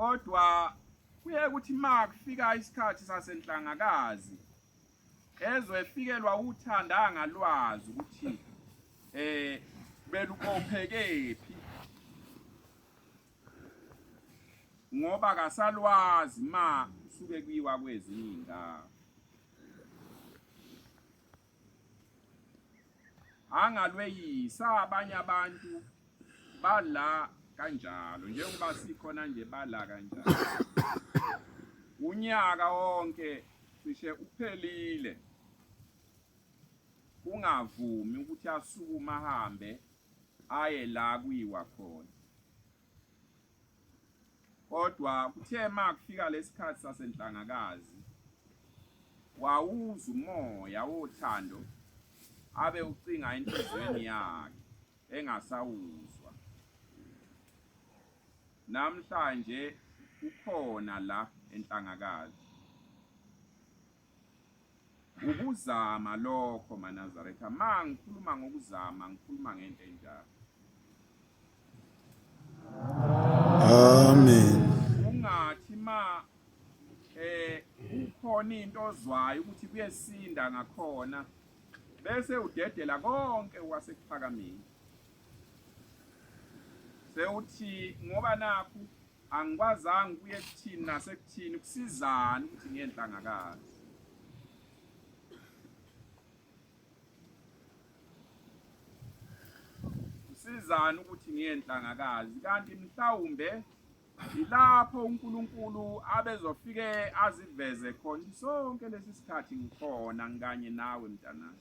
kodwa kuye kuthi ma kufika isikhathi sasenhlangakazi ezwe efikelwa uthanda ngalwazi ukuthi eh belukophekephi ngoba kasalwazi ma suke kuyiwa kwezinye indawo angalweyisa abanye abantu bala kanjalo njengoba sikhona nje bala kanjalo unyaka wonke cishe uphelile kungavumi ukuthi asukume ahambe aye la kuyiwa khona kodwa kuthe makufika lesikhathi sasenhlangakazi wawuza umoya wothando abe ucinga enhlizweni yakhe engasawuzwa namhlanje ukhona la enhlangakazi Ukuzama lokho maNazaretha, ma ngikhuluma ngokuzama ngikhuluma ngento enjalo. Amen. Ungathi ma eh ukhona into ozwayo ukuthi kuyesinda ngakhona bese udedela konke wasekuphakameni sewuthi ngoba nakhu Angikwazanga ukuye kuthini nasekuthini kusizani ukuthi ngenhlangakazi. Kusizani ukuthi ngenhlangakazi kanti mhlawumbe ilapho uNkulunkulu abezofike aziveze khona sonke lesi sikhathi ngikhona ngikanye nawe mntanami.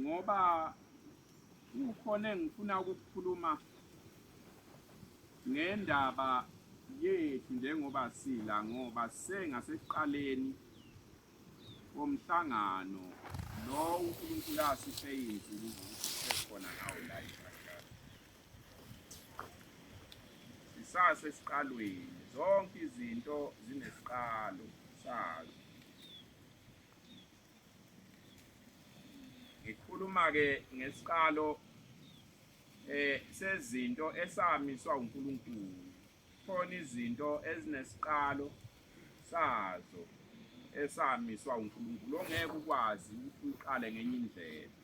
ngoba kukhona engifuna ukukukhuluma ngendaba yethu njengoba sila ngoba sengasekuqaleni komhlangano lo uNkulunkulu asiphe izinsuku ukuthi sikhona ngawo la sisase siqalweni zonke izinto zinesiqalo sazo Ngikhuluma-ke ngesiqalo eh sezinto esamiswa uNkulunkulu khona izinto ezinesiqalo sazo esamiswa uNkulunkulu ongeke ukwazi ukuthi uyiqale ngenye indlela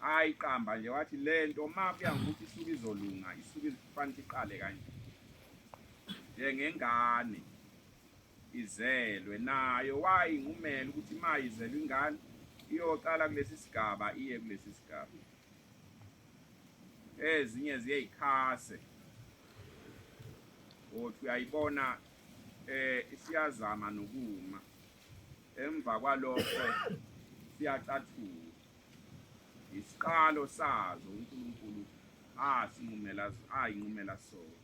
hayi qamba nje wathi lento uma kuya ngokuthi isuke izolunga isuke ifanele iqale kanje njengengane izelwe nayo wayi ngumele ukuthi ima izelwe ingane iyoqala kulesi sigaba iye kulesi sigaba ezinye ziyeyikhase othi uyayibona eh isiyazama nokuma emva kwalokho siyacathuka isiqalo sazo uNkulunkulu asinqumela ayinqumela sona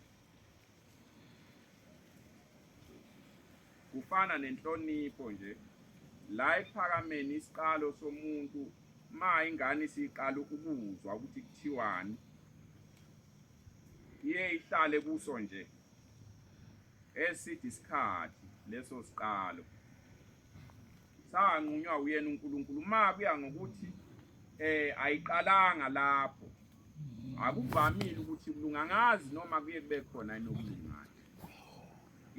kufana nenhlonipho nje la ekuphakameni isiqalo somuntu ma ingane isiqala ukuzwa ukuthi kuthiwani iye ihlale kuso nje eside isikhathi leso siqalo sanqunywa uyena uNkulunkulu uma kuya ngokuthi eh ayiqalanga lapho akuvamile ukuthi kulungangazi noma kuye kube khona inokulingana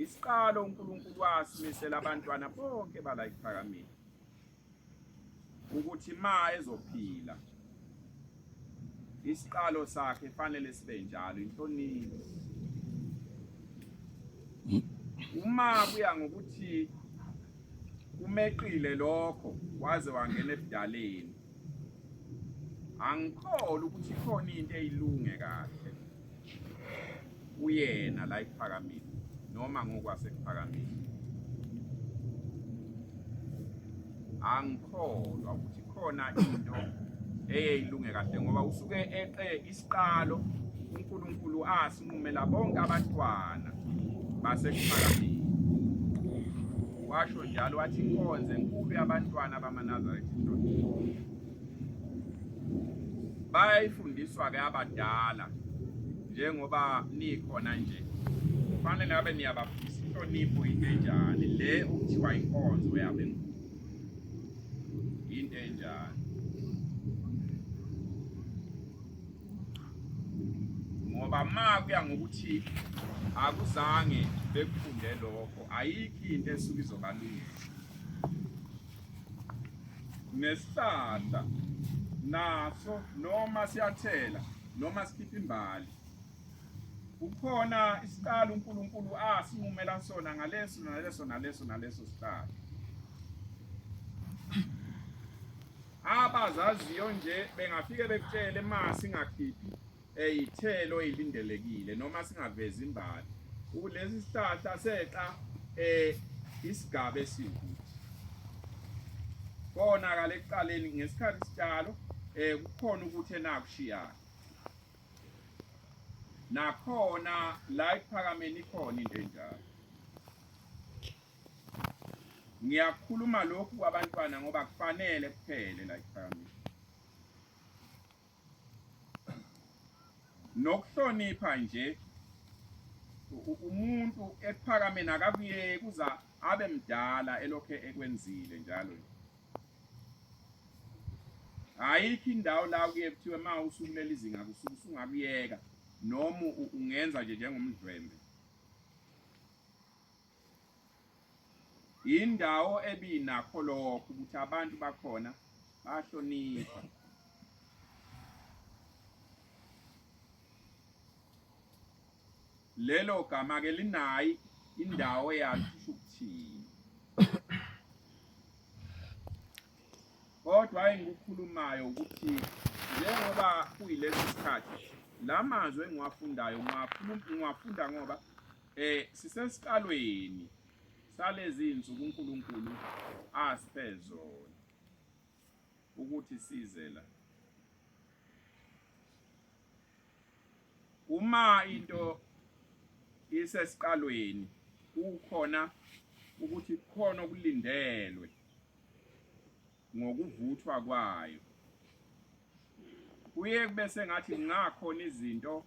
isiqalo uNkulunkulu wasimisela abantwana bonke bala iphakamile ukuthi ma ezophila isiqalo sakhe fanele sibe njalo inhlonipho uma kuya ngokuthi umeqile lokho waze wangena ebudaleni angikholwa ukuthi ikhona into eyilunge kahle kuyena la ekuphakameni noma ngokwasekuphakameni angikholwa ukuthi khona into eyeyilunge kahle ngoba usuke eqe isiqalo uNkulunkulu asinqumela bonke abantwana basekuphakameni washo njalo wathi inkonzo enkulu yabantwana bamanazaretha bayayifundiswa-ke abadala njengoba nikhona nje kufanele ngabe niyabafundisa inhlonipho into enjani le okuthiwa inkonzo yabenkulu yinto enjani ngoba ma kuya ngokuthi akuzange bekufunde lokho ayikho into esuke izobalungisa nesihlahla naso noma siyathela noma sikhipha imbali kukhona isiqalo uNkulunkulu asinqumela sona ngaleso naleso naleso naleso siqalo abazaziyo nje bengafike bekutshele masi ngakhiphi Eyithelo eyilindelekile noma singavezi imbali. Kulesi sihlahla seqa eh isigaba esiwukuthi konakala ekuqaleni ngesikhathi sitshalo eh kukhona ukuthi enakushiyana nakhona la iphakameni ikhona into enjalo ngiyakhuluma lokhu kwabantwana ngoba kufanele kuphele la iphakameni nokuhlonipha nje umuntu ekuphakameni akakuyeki kuza abe mdala elokhe ekwenzile njalo ayikho indawo la kuye kuthiwe ma usukuleli izinga kusuke usungakuyeka noma ungenza nje njengomdlwembe yindawo ebinakho lokho ukuthi abantu bakhona bahlonipha lelo gama ke linayi indawo yakhe ukuthini kodwa engikukhulumayo ukuthi njengoba kuyilesi sikhathi la mazwi engiwafundayo ngiwafunda ngoba Eh sisesiqalweni salezi insuku uNkulunkulu asiphe zona ukuthi size la. Uma into isesiqalweni kukhona ukuthi kukhona okulindelwe ngokuvuthwa kwayo. Kuye kube sengathi kungakhona izinto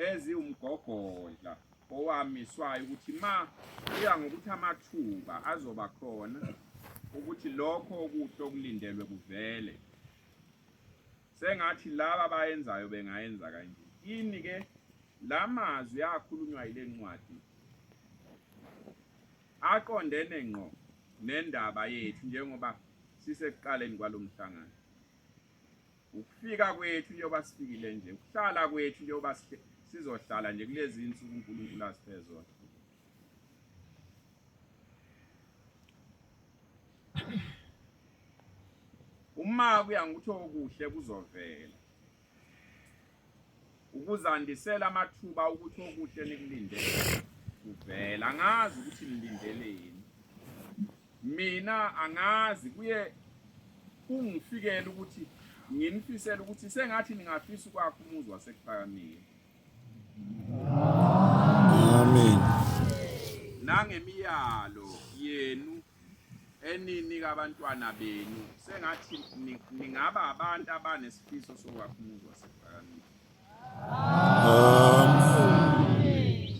eziwumgogodla owamiswayo ukuthi ma kuya ngokuthi amathuba azoba khona ukuthi lokho okuhle okulindelwe kuvele sengathi laba abayenzayo bengayenza kanje ini ke la mazwi akhulunywa yile ncwadi aqondene ngqo nendaba yethu njengoba sisekuqaleni kwalo mhlangano ukufika kwethu njengoba sifikile nje ukuhlala kwethu njengoba sizohlala nje kulezi insuku uNkulunkulu asiphe zona uma kuya ngitho okuhle kuzovela ukuzandisela amathuba ukuthi okuhle nikulindele kuvela angazi ukuthi nilindeleni mina angazi kuye kungifikela ukuthi nginifisela ukuthi sengathi ningafisa ukwakha umuzi wasekuphakamile amen nangemiyalo yenu eninika abantwana benu sengathi ningaba abantu abanesifiso sokwakha umuzi wasekuphakamiwe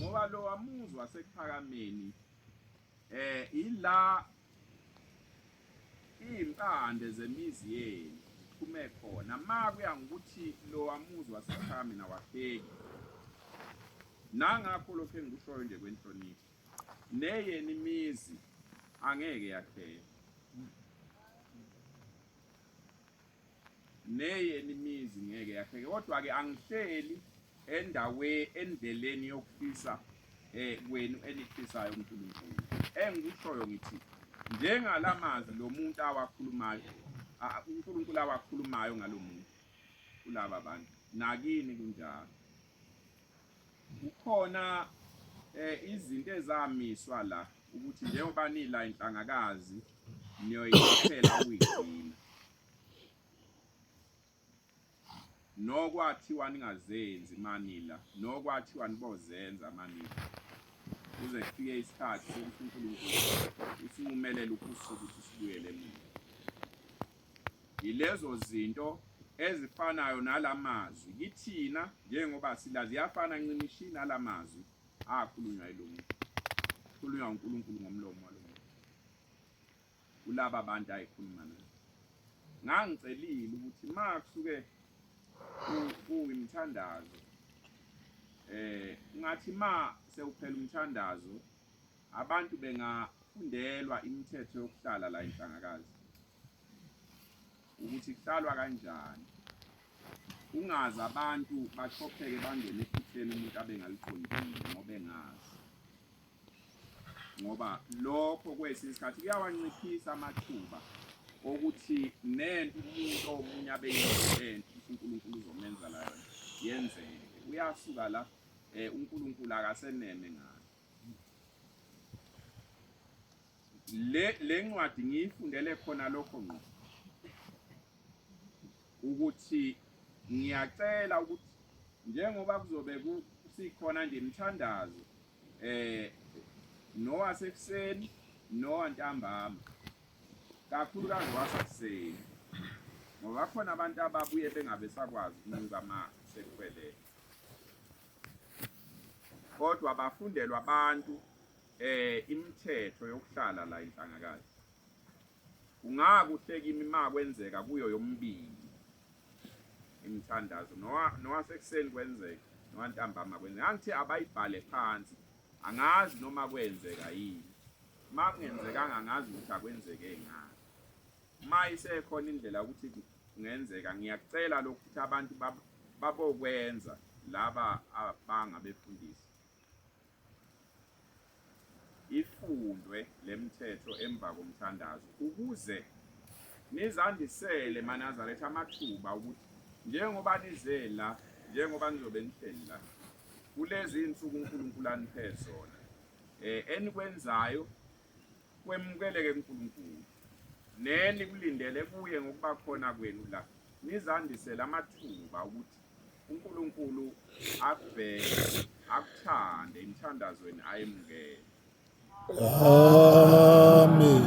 ngoba lo wamuzi wasekuphakameni eh ila impande zemizi yenu kuphume khona ma kuya ngokuthi lo wamuzi wasekuphakameni awahleki nangakho lokho engikushoyo nje kwenhlonipho neyeni imizi angeke yakheke neyeni imizi ngeke yakheke kodwa-ke angihleli endawe endleleni yokufisa eh kwenu enifisayo uNkulunkulu engikushoyo ngithi njengala mazwi lo muntu awakhulumayo uNkulunkulu awakhulumayo ngalo muntu kulaba bantu nakini kunjalo Kukhona eh izinto ezamiswa la ukuthi njengoba nila inhlangakazi niyoyiphela uyigcina. Nokwathiwa ningazenzi manila, nokwathiwa nibozenza manila. Kuze kufike isikhathi sokuthi uNkulunkulu usinqumelele ukusuka ukuthi sibuyele mina. Yilezo zinto ezifanayo nala mazwi kithina njengoba sila ziyafana ncimishi nala mazwi akhulunywa ilungu khulunywa uNkulunkulu ngomlomo walo kulaba bantu ayikhuluma nabo ngangicelile ukuthi ma kusuke kuyimthandazo eh ngathi ma sewuphela umthandazo Abantu bengafundelwa imithetho yokuhlala la inhlangakazi ukuthi kuhlalwa kanjani ungazi abantu bachopheke bangene ephutheni umuntu abengaliqondile ngoba engazi ngoba lokho kwesinye isikhathi kuyawanciphisa amathuba okuthi nento umuntu omunye abeyinhle uNkulunkulu uzomenza la yona yenzeke uyasuka la eh uNkulunkulu akaseneme ngayo le le ncwadi ngiyifundele khona lokho ngqo ukuthi ngiyacela ukuthi njengoba kuzobe kusikhona nje imithandazo eh nowasekuseni nowantambama kakhulu kaziwasekuseni ngoba khona abantu ababuye bengabe sakwazi ukunuka uma sekufelele kodwa bafundelwa abantu eh imithetho yokuhlala la inhlangakazi kungakuhle kimi ma kwenzeka kuyo yombili imithandazo nowasekuseni kwenzeka nowantambama kwenzeka angithi abayibhale phansi angazi noma kwenzeka yini ma kungenzekanga angazi ukuthi akwenzeke ngani ma isekhona indlela ukuthi Kungenzeka ngiyacela lokhu ukuthi abantu babokwenza laba abangabefundisi ifundwe lemthetho emva komthandazo ukuze nizandisele manazaretha amathuba ukuthi njengoba nizela njengoba nizobe nihleli la kulezi insuku uNkulunkulu aniphe zona eh enikwenzayo kwemukeleke kuNkulunkulu, nenikulindele kuye ngokuba khona kwenu la, nizandisele amathuba ukuthi uNkulunkulu akubheke, akuthande emthandazweni ayemukele. Amen.